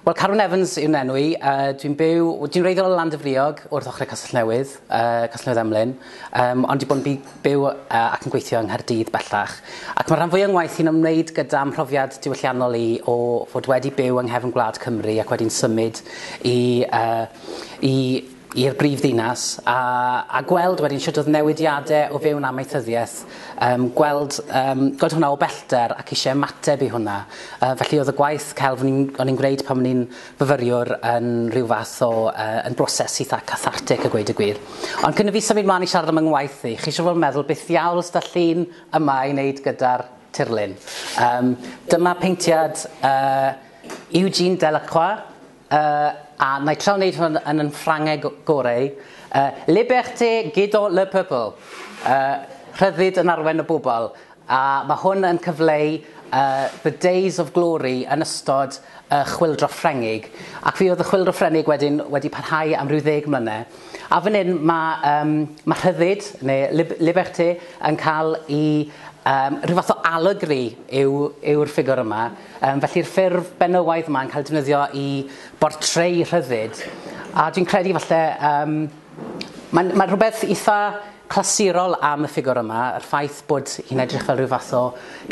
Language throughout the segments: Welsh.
Wel, Carwyn Evans yw'n enw i. Uh, dwi'n byw, dwi'n reiddiol o Landyfriog, wrth ochr y Castell Newydd, uh, Castell Newydd Emlyn, um, ond dwi'n bod yn byw uh, ac yn gweithio yng Nghaerdydd bellach. Ac mae rhan fwy o'n ngwaith i'n ymwneud gyda mhrofiad diwylliannol i o fod wedi byw yng nghefn gwlad Cymru ac wedi'n symud i, uh, i i'r brifddinas a, a gweld wedyn sut oedd newidiadau o fewn amaethyddiaeth, um, gweld, um, gweld hwnna o bellter ac eisiau ymateb i hwnna. Uh, felly oedd y gwaith celf o'n i'n gwneud pan o'n i'n fyfyriwr yn rhyw fath o uh, yn broses eitha cathartic a gweud y gwir. Ond cyn y fi symud mlaen i siarad am yng ngwaith i, chi eisiau fod yn meddwl beth ddiawl ysda llun yma i wneud gyda'r tirlun. Um, dyma peintiad uh, Eugene Delacroix, Yy, a na i trio wneud hwn yn yn Ffrangeg goreu. Yy, liberté guido le peuple. Yy, rhyddid yn arwen y bobl. A mae hwn yn cyfleu yy, the days of glory yn ystod y Chwyldro Ffrengig. Ac fe oedd y Chwyldro Ffrengig wedyn wedi parhau am ryw ddeg mlyne. A fan hyn mae, um, mae rhyddid, neu lib liberté, yn cael i... Um, rhyw fath o allegri yw'r yw ffigwr yma. Yym, felly'r ffurf benywaidd yma yn cael ei defnyddio i bortreu rhyddid, a dwi'n credu falle, um, mae'n mae rhywbeth eitha clasurol am y ffigwr yma, yr ffaith bod hi'n edrych fel rhyw fath o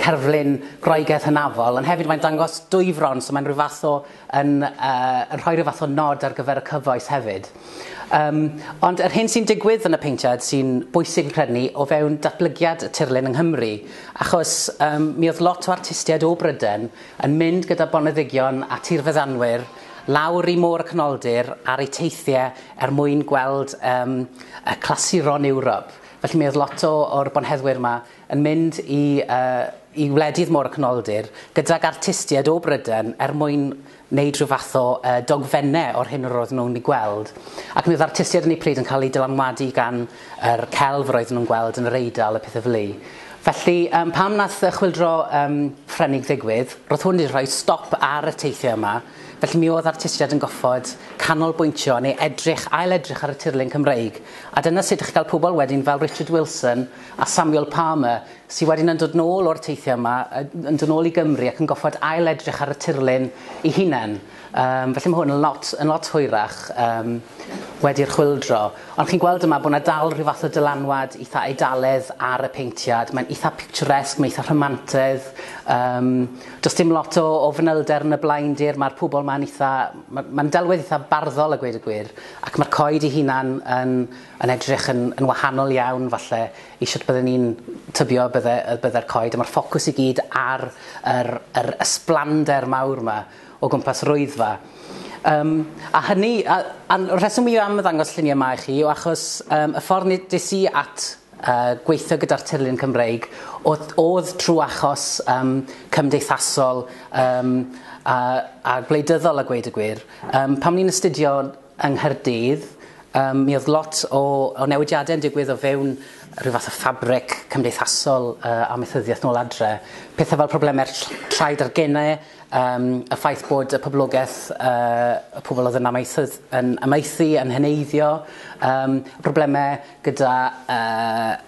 cerflun Groegaidd hynafol, ond hefyd mae'n dangos dwy fron, so mae'n rhyw fath o, yn, uh, yn rhoi rhyw fath o nod ar gyfer y cyfoes hefyd. Um, ond yr hyn sy'n digwydd yn y peintiad sy'n bwysig yn credu ni o fewn datblygiad y tirlun yng Nghymru, achos um, mi oedd lot o artistiaid o Bryden yn mynd gyda boneddigion a tirfeddanwyr lawr i môr y canoldir ar eu teithiau er mwyn gweld um, y clasuron Ewrop. Felly mi oedd lot o'r bonheddwyr yma yn mynd i, uh, i wledydd môr y canoldir gydag artistiaid o Bryden er mwyn wneud rhyw fath o yy dogfennau o'r hyn yr oedden nhw'n ei gweld, ac mi oedd artistiaid yn eu pryd yn cael eu dylanwadu gan yr celf yr oedden nhw'n gweld yn yr Eidal a pethau fely. Felly yym pan wnaeth y chwyldro yym Ffrenig ddigwydd, roedd hwn wedi rhoi stop ar y teithiau yma, felly mi oedd artistiaid yn goffod canolbwyntio neu edrych, ail-edrych ar y tirlun Cymreig, a dyna sut o'ch chi'n cael pobl wedyn fel Richard Wilson a Samuel Palmer sy wedyn yn dod nôl o'r teithiau yma, yn dod nôl i Gymru ac yn goffod ail-edrych ar y tirlun ei hunain. Um, felly mae hwn yn lot, yn lot hwyrach um, wedi'r chwildro. Ond chi'n gweld yma bod yna dal rhyw fath o dylanwad eitha eidaledd ar y peintiad. Mae'n eitha picturesque, mae'n eitha rhamantedd. Um, does dim lot o, o fanylder yn y blaen dir, mae'r pobl mae'n eitha... Mae'n ma delwedd eitha barddol a gweud y gwir, ac mae'r coed ei hunan yn, yn edrych yn, yn wahanol iawn falle i shwt bydden ni'n tybio y bydde, y bydde'r coed, a mae'r ffocws i gyd ar yr, yr ysblander mawr yma o gwmpas Rwyddfa. Um, a hynny, a, a'r rheswm i am ddangos lluniau yma i chi yw achos um, y ffordd nes i at uh, gweithio gyda'r tirlun Cymreig oedd, oedd trwy achos um, cymdeithasol um, a, a gwleidyddol a gweud y gwir. Um, pam ni'n astudio yng Nghaerdydd, yym, mi oedd lot o o newidiadau yn digwydd o fewn rhyw fath o ffabric cymdeithasol yy amaethyddiaeth nôl adre. Pethau fel problemau'r ll- llaid a'r gene, yym, y ffaith bod y poblogaeth, yy, y pobl oedd yn amaethydd- yn amaethu yn heneiddio, yym, problemau gyda yy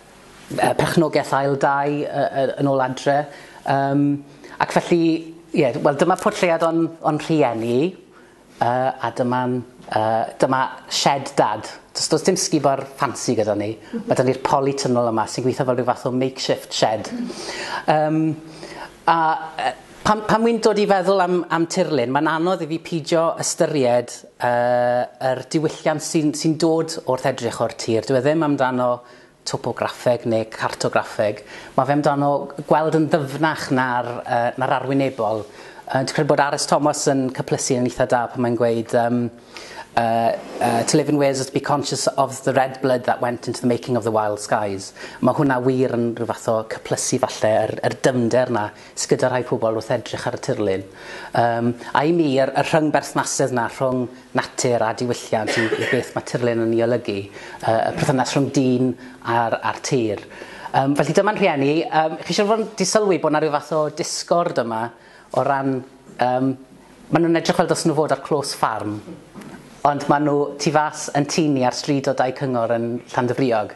yy perchnogaeth ail dai yy yy yn ôl adre, yym, ac felly, ie, wel dyma portread o'n o'n rhieni. Yy a dyma'n yy dyma shed dad. Do's do's dim sgubor ffansi gyda ni. Ma' 'da ni'r polytunnel yma sy'n gwitho fel rhyw fath o makeshift shed. Yym a yy pan pan wi'n dod i feddwl am am tirlun ma'n anodd i fi pidio ystyried yy yr diwylliant sy'n sy'n dod wrth edrych o'r tir dyw e ddim amdano topograffeg neu cartograffeg, mae fe amdano gweld yn ddyfnach na'r, uh, na'r arwynebol. Uh, dwi'n credu bod Aris Thomas yn cyplysu yn eitha da pan mae'n gweud um, uh, uh, to live in Wales is to be conscious of the red blood that went into the making of the wild skies. Mae hwnna wir yn rhyw fath o cyplysu falle yr, yr dymder na sy'n gyda rhai pobl wrth edrych ar y tirlun. Um, a i mi, yr, y rhyng berthnasedd na rhwng natur a diwylliant i i beth mae tirlun yn ei olygu, y y perthynas rhwng dyn a'r a'r tir. Yym felly dyma'n rhieni, yym chi siŵr fod yn 'di sylwi bod 'na ryw fath o disgord yma o ran yym ma' nhw'n edrych fel dylsen nhw fod ar clôs ffarm ond ma' nhw tu fas yn tŷ ni ar stryd o dai cyngor yn Llandyfriog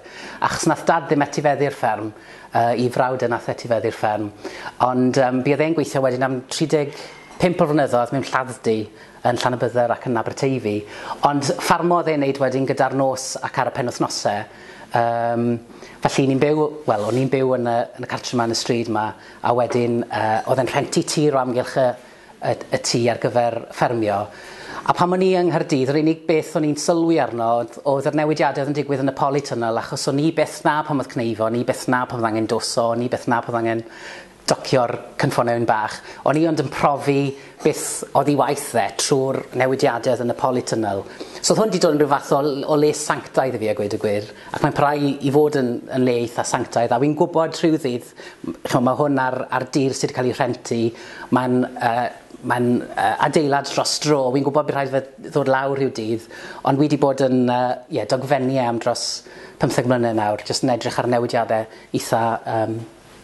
achos nath dad ddim etifeddu'r fferm yy 'i frawd e nath etifeddu'r fferm ond yym buodd e'n gweithio wedyn am 35 o flynyddoedd mewn lladd-dy yn Llanybydder ac yn Aberteifi, ond ffarmo oedd e'n neud wedyn gyda'r nos ac ar y penwythnose. Yym, felly ni'n byw, wel, o'n i'n byw yn y, yn y cartre 'ma yn y stryd 'ma, a wedyn uh, oedd e'n rhenti tir o amgylch y, y, y tŷ ar gyfer ffermio. A pan o'n i yng Nghaerdydd, yr unig beth o'n i'n sylwi arno oedd, oedd yr newidiadau oedd yn digwydd yn y polytunnel, achos o'n i beth na pan oedd cneifa, o'n i beth na pan oedd angen doso, o'n i beth na pan oedd angen docio'r cynffon eun bach, o'n i ond yn profi beth oddi waith fe trwy'r newidiadau oedd yn y polytunnel. So oedd hwn wedi dod yn rhyw fath o, o le sanctaidd i fi a gweud y gwir, ac mae'n parhau i, i fod yn, yn le eitha sanctaidd, a fi'n gwybod rhyw ddydd, chymod, mae hwn ar, ar dir sydd wedi cael ei rhentu, mae'n uh, mae'n uh, adeilad dros dro, fi'n gwybod bydd rhaid fe ddod lawr rhyw dydd, ond wedi bod yn uh, yeah, dogfennu am dros 15 mlynedd nawr, jyst yn edrych ar newidiadau eitha um,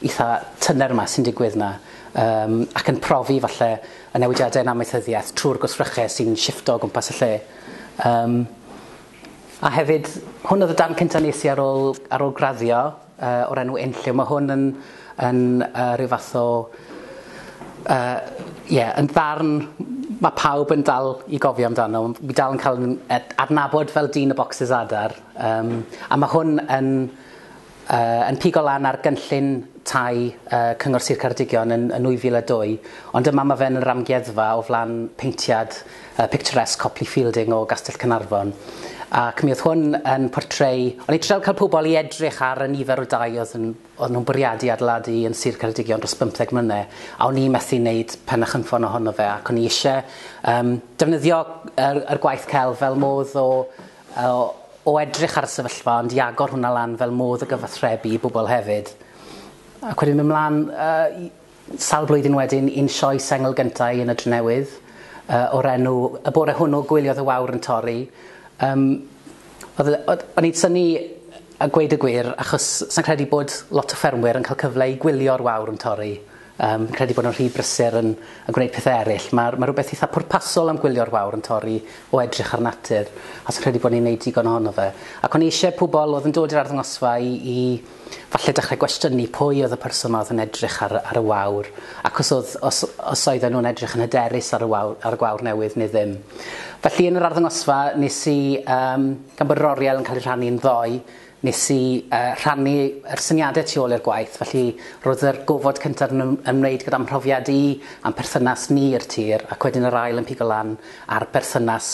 eitha tyner 'ma sy'n digwydd 'ma yym ac yn profi falle y newidiade yn amaethyddiaeth trwy'r gwsryche sy'n shiffto o gwmpas y lle yym a hefyd hwn oedd y darn cynta nes i ar ôl ar ôl graddio yy o'r enw Unlliw ma' hwn yn yn yy rhyw fath o yy ie yn ddarn ma' pawb yn dal i gofio amdano mi dal yn ca'l 'yn adnabod fel dyn y bocsys adar yym a ma' hwn yn yn pigo lan ar gynllun tai Cyngor Sir Ceredigion yn 2002, ond yma mae fe'n yr amgueddfa o flan peintiad picturesque Copley Fielding o Gastell Caernarfon. Ac mi oedd hwn yn portreu... O'n i'n trial cael pobl i edrych ar y nifer o dai oedd nhw'n bwriadu adeiladu yn Sir Ceredigion dros 15 mlynedd, a o'n i'n methu wneud pen a chynffon ohono fe, ac o'n i eisiau defnyddio yr gwaith celf fel modd o... O, o edrych ar y sefyllfa ond i agor hwnna lan fel modd o gyfathrebu i bobl hefyd. Ac wedyn myn' mlan yy i... Sawl blwyddyn wedyn un sioe sengl gynta i yn y Drenewydd yy o'r enw Y Bore Hwnnw Gwyliodd y Wawr yn Torri yym o'dd yy o'dd o'n i'n synnu a gweud y gwir achos sai'n credu bod lot o ffermwyr yn ca'l cyfle i gwylio'r wawr yn torri. Yn credu bod yn rhy brysur yn yn gwneud pethau eraill. Mae mae rhywbeth eitha pwrpasol am gwylio'r wawr yn torri o edrych ar natur, a sy'n credu bod ni'n neud digon ohono fe. Ac o'n i eisiau pobl oedd yn dod i'r arddangosfa i i falle dechrau gwestiynu pwy oedd y person ma oedd yn edrych ar ar y wawr, ac os oedd os os oedden nhw'n edrych yn hyderus ar y wawr ar y gwawr newydd neu ddim. Felly yn yr arddangosfa nes i yym gan bod yr oriel yn cael ei rhannu yn ddoe, Nes i rhannu yr syniadau tu ôl i'r gwaith, felly roedd yr gofod cyntaf yn ymwneud gyda mhrofiad i a'n perthynas ni i'r tir ac wedyn yr ail yn pigo lan ar berthynas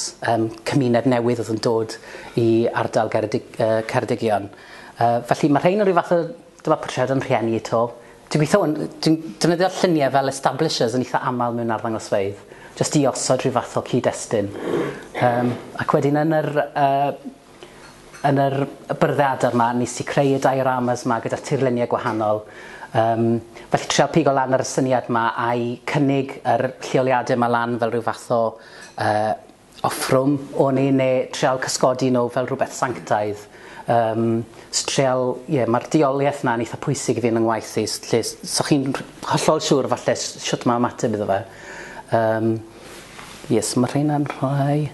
cymuned newydd oedd yn dod i ardal Ceredigion. Felly mae rhein yn rhyw fath o, dyma portread o'n rhieni i 'to. Dwi'n gweithio hwn, dwi'n defnyddio lluniau fel establishers yn eitha aml mewn arddangosfeydd, jyst i osod rhyw fath o cyd-destun. Ac wedyn yn yr Yn yr byrddau adar 'ma, nes i creu y dioramas 'ma gyda tirluniau gwahanol. Yym, felly trial pigo lan ar y syniad 'ma a'i cynnig yr lleoliadau 'ma lan fel rhyw fath o yy offrwm o'n i, neu trial cysgodi nhw fel rhywbeth sanctaidd. Yym, so trial, ie, ma'r deuoliaeth 'na'n eitha pwysig i fi yn 'y ngwaith i, lle s- so chi'n rh- hollol siŵr falle s- shwt ma' ymateb iddo fe. Yym, ie, so ma' rheina'n rhai.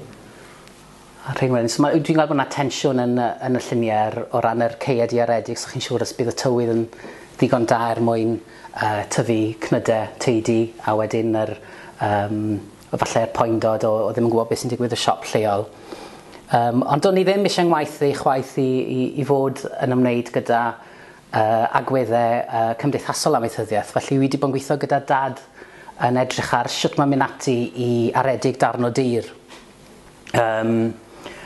A Rhingwyn. So mae... dwi'n gweld bod 'na tensiwn yn y yn y llunie r- o ran yr caead iaredig so chi'n siŵr os bydd y tywydd yn ddigon da er mwyn yy tyfu cnyde taedi a wedyn yr yym efalle'r poendod o o ddim yn gwbod beth sy'n digwydd y siop lleol. Yym ond do'n i ddim isie 'ngwaith i chwaith i i i fod yn ymwneud gyda yy agwedde yy cymdeithasol amaethyddiaeth felly wi 'di bod yn gwitho gyda dad yn edrych ar shwt ma' myn' ati i aredig darn o dir. Yym,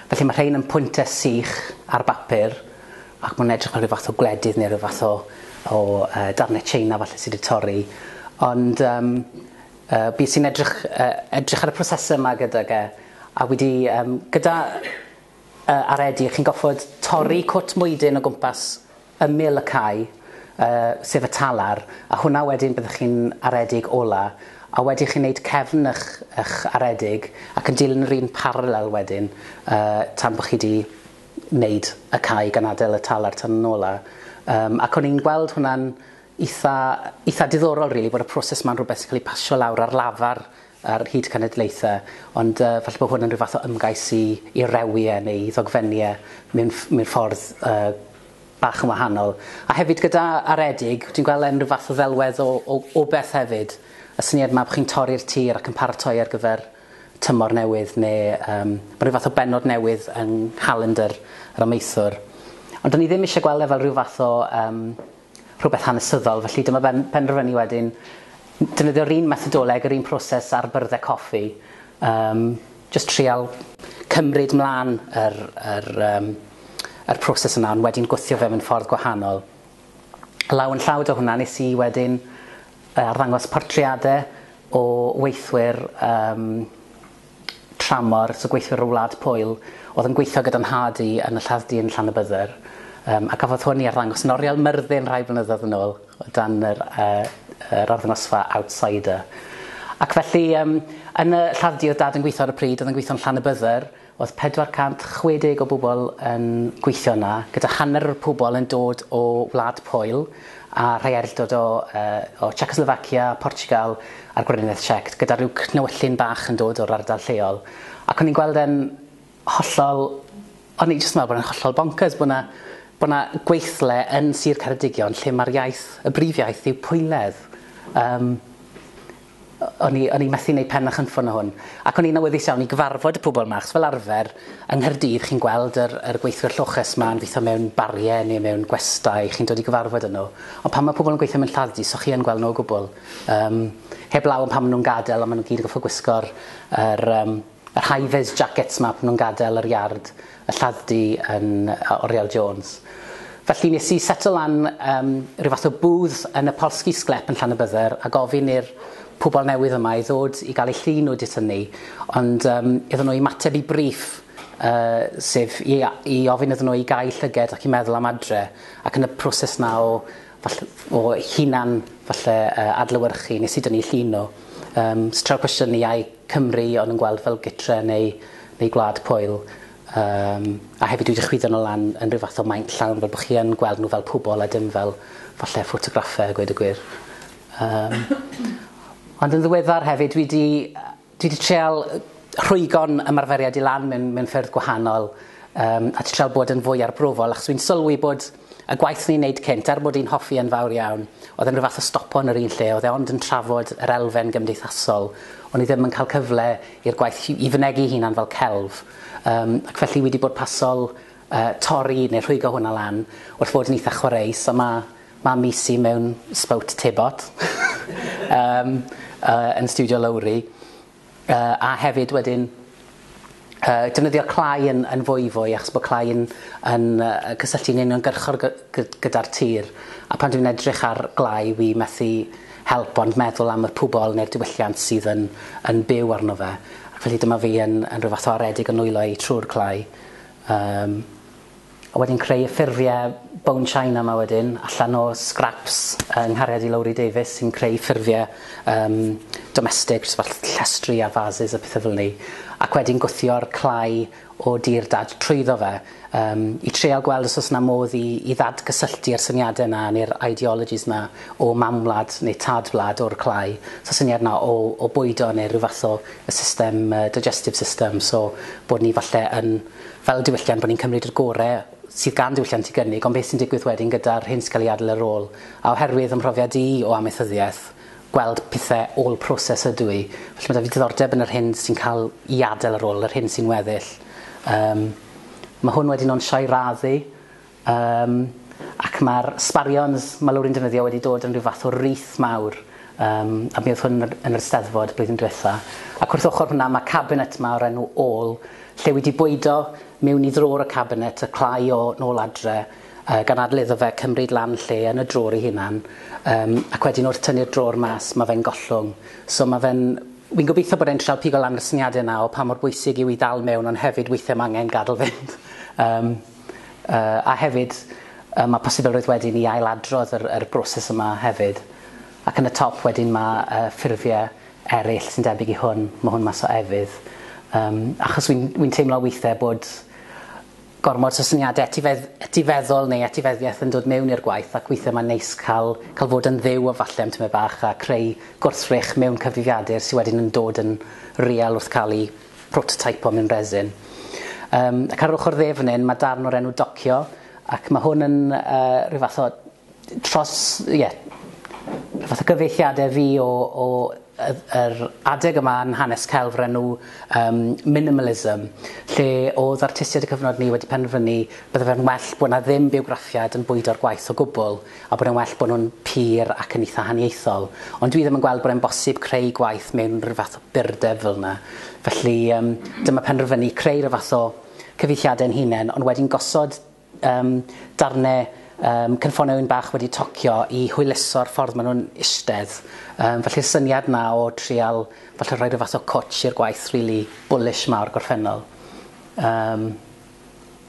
felly mae rhein yn pwynte sych ar bapur ac mae'n edrych fel rhyw fath o gwledydd neu rhyw fath o, o uh, darnau China falle sydd wedi torri. Ond um, uh, bys i'n edrych, uh, edrych ar y prosesau yma gydag e, a wedi, um, gyda uh, aredi, chi'n goffod torri cwt mwydyn o gwmpas ymyl y cae, yy, sef y talar, a hwnna wedyn byddwch chi'n aredig ola, a wedi chi wneud cefn ych, ych aredig, ac yn dilyn yr un paralel wedyn, yy, tan bod chi wedi wneud y cae gan adael y talar tan yn ola. Yym, ac o'n i'n gweld hwnna'n eitha, eitha diddorol rili, bod y proses ma'n rhywbeth sy'n cael ei pasio lawr ar lafar ar hyd cenedlaethau, ond yy falle bod hwn yn rhyw fath o ymgais i i rewi e neu i ddogfennu e mewn ff- mewn ffordd yy bach yn wahanol. A hefyd gyda Aredig, dwi'n gweld e'n rhyw fath o ddelwedd o o o beth hefyd, y syniad 'ma bo' chi'n torri'r tir ac yn paratoi ar gyfer tymor newydd neu yym ma' rhyw fath o bennod newydd yng nghalendr yr amaethwr. Ond 'dan ni ddim isie gweld e fel rhyw fath o yym rhywbeth hanesyddol, felly dyma ben, penderfynu wedyn defnyddio'r un methodoleg, yr un proses ar byrddau coffi, um, just trial cymryd mlaen yr, yr, um, yr proses yna, ond wedyn gwthio fe mewn ffordd gwahanol. Law yn llawd o hwnna, nes i wedyn arddangos portreadau o weithwyr um, tramor, so gweithwyr o Wlad Pwyl, oedd yn gweithio gyda nhad i yn y lladd-dy yn Llanybydder, um, a cafodd hwn i arddangos yn oriel Myrddin rhai blynyddoedd yn ôl, o dan yr, uh, yr arddangosfa Outsider. Ac felly, um, yn y lladd-dy oedd dad yn gweithio ar y pryd, oedd yn gweithio yn Llanybydder, oedd 460 o bobl yn gweithio yna, gyda hanner o'r pobl yn dod o Wlad Pwyl, a rhai eraill dod o, uh, o Czechoslovakia, Portugal, ar gwrywnaeth siect gyda rhyw cnewyllyn bach yn dod o'r ardal lleol ac o'n i'n gweld e'n hollol... o'n i jyst yn meddwl bod e'n hollol bonkers bod 'na bod 'na gweithle yn Sir Ceredigion lle mae'r iaith, y brif iaith yw Pwylaidd. Yym o- o'n i o'n i methu neud pen a chynffon o hwn ac o'n i'n awyddus iawn i gyfarfod y pobl 'ma achos fel arfer yng Nghaerdydd chi'n gweld yr yr gweithwyr lloches 'ma yn gweitho mewn barie neu mewn gwestai chi'n dod i gyfarfod â nhw ond pan mae pobl yn gweithio mewn lladd-dy so chi yn gweld nhw o gwbl. Yym, heb law am pan ma' nhw'n gadel, ond ma' nhw gyd yn gorffod gwisgo'r yr yym yr high vis jackets 'ma pan nhw'n gadel yr iard, y lladd-dy yn yy Oriel Jones. Felly nes i setlo lan yym ryw fath o booth yn y Polski Sklep yn Llanybydder a gofyn i'r pobol newydd yma i ddod i ga'l eu llun nhw 'dyt hynny, ond yym iddyn nhw ymateb i briff yy sef i a- i ofyn iddyn nhw i gau llyged ac i meddwl am adre, ac yn y proses 'na o Falle o hunan falle yy adlewyrchu nes i dynnu llun o. Yym so treial cwestiynu ai Cymru o'n nhw'n gweld fel gytre neu neu gwlad pwyl. Yym a hefyd dwi 'di chwyddo nhw lan yn rhyw fath o maint llawn fel bo' chi yn gweld nhw fel pobol a dim fel falle ffotograffe a gweud y gwir. Yym ond yn ddiweddar hefyd dwi 'di yy Dwi 'di trial rhwygo'n ymarferiad i lan mewn mewn ffyrdd gwahanol yym a 'di trial bod yn fwy arbrofol achos wi'n sylwi bod y gwaith o'n i'n neud cynt er bod i'n hoffi e'n fawr iawn o'dd e'n ryw fath o stopo yn yr un lle o'dd e ond yn trafod yr elfen gymdeithasol o'n i ddim yn ca'l cyfle i'r gwaith hi- i fynegi'i hunan fel celf yym ac felly wi 'di bod pasol yy torri ne' rhwygo hwnna lan wrth fod yn itha chwareus a ma' Mae Misi mewn sbout tebot yym yy yn stiwdio Lowri yy a hefyd wedyn yy defnyddio clai yn yn fwyfwy achos bod clai yn yn yy cysylltu'n uniongyrchol gy- gy- gyda'r tir a pan dwi'n edrych ar glai wi methu help ond meddwl am y pwbol neu'r diwylliant sydd yn yn byw arno fe ac felly dyma fi yn yn rhyw fath o aredig yn nwylo i trw'r clai yym A wedyn creu y ffurfiau bone china 'ma wedyn allan o scraps yng nghariad i Lowri Davies sy'n creu ffurfiau yym domestig jyst fel llestri a vases a pethe fel 'ny ac wedyn gwthio'r clai o dir dad trwyddo fe yym i treial gweld os o's 'na modd i i ddadgysylltu'r syniadau 'na neu'r ideologies 'na o mam-wlad neu tad-wlad o'r clai so syniad 'na o o bwydo neu ryw fath o y system yy digestive system so bod ni falle yn fel diwylliant bod ni'n cymryd yr gore sydd gan diwylliant i gynnig ond beth sy'n digwydd wedyn gyda'r hyn sy'n cael ei adl ar ôl a oherwydd fy mhrofiad i o amaethyddiaeth gweld pethe all process ydw i felly ma' 'da fi diddordeb yn yr hyn sy'n cael i adl ar ôl yr hyn sy'n weddill yym ma' hwn wedyn o'n sio'i raddu Yym, ac mae'r sbarions mae Lowri'n defnyddio wedi dod yn rhyw fath o wreath mawr, yym, a mi oedd hwn yn yr Eisteddfod blwyddyn diwetha'. Ac wrth ochr hwnna mae cabinet 'ma o'r enw All, lle wi 'di bwydo miwn i ddrôr y cabinet y clai o nôl adre, yy, gan adl iddo fe cymryd lan lle yn y drôr ei hunan, yym, ac wedyn wrth tynnu'r drôr mas mae fe'n gollwng. So mae fe'n... Wi'n gobeithio bod e'n trial pigo lan y syniade 'na o pa mor bwysig yw i ddal miwn ond hefyd weithie ma' angen gadl fynd. Yym. A hefyd, yy, ma' posibilrwydd wedyn i ail-adrodd yr yr broses yma hefyd. Ac yn y top wedyn ma' yy ffurfie eryll sy'n debyg i hwn, ma' hwn mas o efydd. Yym, achos wi'n wi'n teimlo weithie bod gormod o syniade etifedd- etifeddol neu etifeddiaeth yn dod mewn i'r gwaith ac weithie ma'n neis ca'l ca'l fod yn fyw o falle am tymed bach a creu gwrthrych mewn cyfrifiadur sy wedyn yn dod yn real wrth ca'l 'i prototype o mewn resin. Um, ac ar yr ochr ddefnyn mae darn o'r enw docio, ac mae hwn yn uh, rhyw fath o tros, ie, yeah, fath o gyfeithiadau fi o, o yr adeg yma yn hanes celf o'r enw um, minimalism, lle oedd artistiaid y cyfnod ni wedi penderfynu bydde fe'n well bod yna ddim biwgraffiad yn bwydo'r gwaith o gwbl. a bod e'n well bod nhw'n pur ac yn eitha' haniaethol, ond dwi ddim yn gweld bod e'n bosib creu gwaith mewn rhyw fath o burdeb fel 'na. Felly, yym, dyma penderfynu creu rhyw fath o cyfieithiadau ein hunain, ond wedyn gosod, yym, darnau, yym, cynffonau ŵyn bach wedi tocio i hwyluso'r ffordd maen nhw'n eistedd. Yym, felly'r syniad 'na o trial, falle, rhoi rhyw fath o cwtsh i'r gwaith rili bwlish 'ma o'r gorffennol. Yym.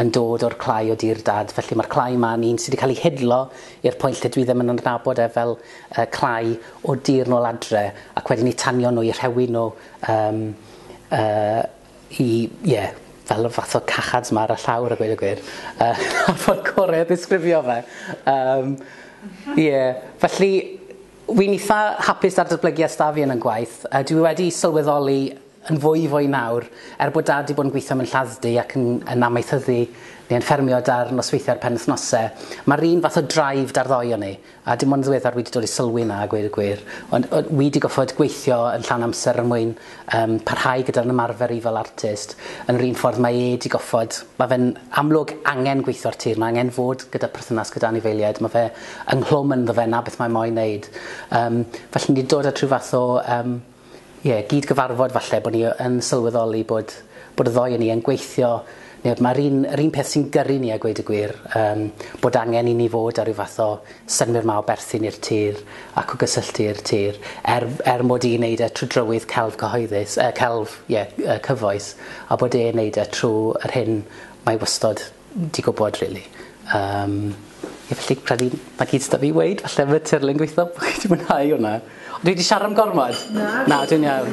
yn dod o'r clai o dir dad, felly mae'r clai ma yn un sydd wedi cael ei hidlo i'r pwynt lle dwi ddim yn adnabod e fel uh, clai o dir nôl adre, ac wedyn i tanio nhw, i rhewi nhw, um, uh, i, ie, yeah, fel y fath o cachads ma ar y llawr a gweud y gwir. Uh, a ffordd gorau o ddisgrifio fe. Um, yeah. Felly, Wy'n eitha hapus ar datblygiad stafion yn gwaith. Uh, dwi wedi sylweddoli yn fwy fwy nawr, er bod Dad 'di bod yn gweithio mewn lladd-dy ac yn yn amaethyddu neu yn ffermio 'da'r nosweithie a'r penwythnose, ma'r un fath o drive 'da'r ddou o ni, a dim ond yn ddiweddar wi 'di dod i sylwi 'na a gweud y gwir, ond o- wi 'di goffod gweithio yn llawn amser er mwyn yym parhau gyda'r ymarfer i fel artist, yn yr un ffordd mae e 'di goffod, ma' fe'n amlwg angen gweithio'r tir, ma' angen fod gyda perthynas gyda anifeiliaid, ma' fe ynghlwm ynddo fe 'na beth mae moyn neud, yym felly ni 'di dod at rhyw fath o yym Ie, gyd gyfarfod falle bod ni yn sylweddoli bod bod y ddou o ni yn gweithio neu bod mae'r un, yr un peth sy'n gyrru ni a gweud y gwir, um, bod angen i ni fod ar ryw fath o synwyr ma o berthyn i'r tir ac o gysylltu i'r tir, er, er mod i'n neud e trwy drywydd celf cyhoeddus, uh, celf, ie, yeah, uh, cyfoes, a bod e'n neud e trwy yr hyn mae wastod Ti gwybod rili. Yym ie felly credu 'na gyd s'da fi i weud falle am y tirlun gwitho bo' chi 'di mwynhau hwnna. Dwi 'di siarad am gormod? Na. Na dwi'n iawn.